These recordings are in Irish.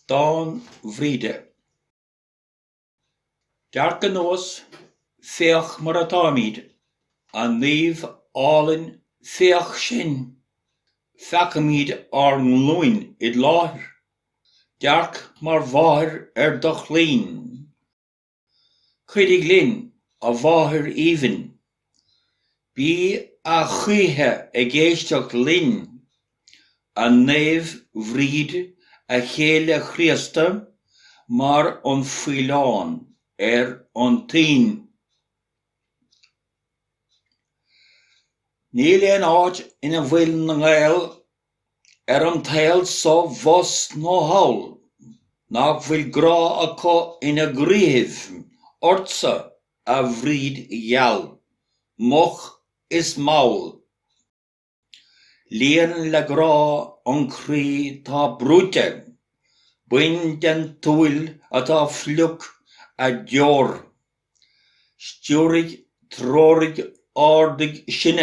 Dán Bhríde. Dearc anuas, féach mar atáimid, a naomh álainn féach sinn, feacaimid ár nglúin id láthair, dearc mar mháthair ar do chlainn. Cuidigh linn, a Mháthair aoibhinn. Bí a choíche ag éisteacht linn, a Naomh Bhríd, a chéile Chríosta, mar an faoileán ar an toinn. Níl aon áit ina bhfuil na Gaeil ar an tsaol so abhus nó thall, nach bhfuil grá acu ina gcroíthibh ort-sa, a Bhríd gheal, moch is mall. Líon le grá an croí 'tá brúite, bain den tsúil atá fliuch, an deor. Stiúraigh, treoraigh, ardaigh, sinn.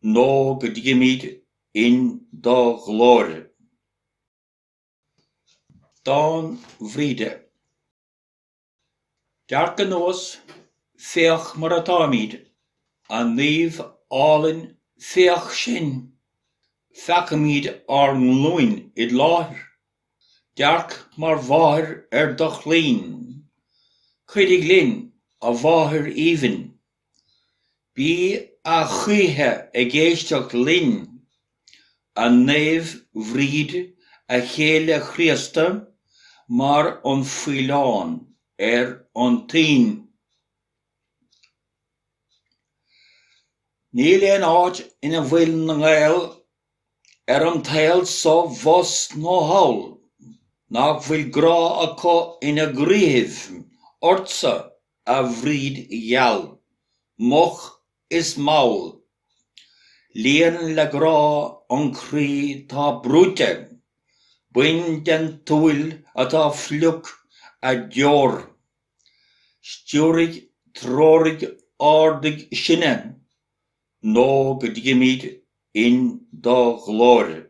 Nó go dtigimid in do ghlóir. Dán Bhríde. Dearc anuas, féach mar atáimid, a naomh álainn féach sinn, feacaimid ár nglúin id láthair, dearc mar mháthair ar do chlainn, cuidigh linn, a mháthair aoibhinn. Bí a choíche ag éisteacht linn, a Naomh Bhríd, a Chéile Chríosta, mar an faoileán ar an toinn. Níl aon áit ina bhfuil na Gaeil ar an tsaol so abhus nó thall, nach bhfuil grá acu ina gcroíthibh ort-sa, a Bhríd gheal, moch is mall. Líon le grá an croí 'tá brúite, bain den tsúil atá fliuch, an deor. Stiúraigh, treoraigh, ardaigh, sinn, Nó go dtigimid in do ghlóir.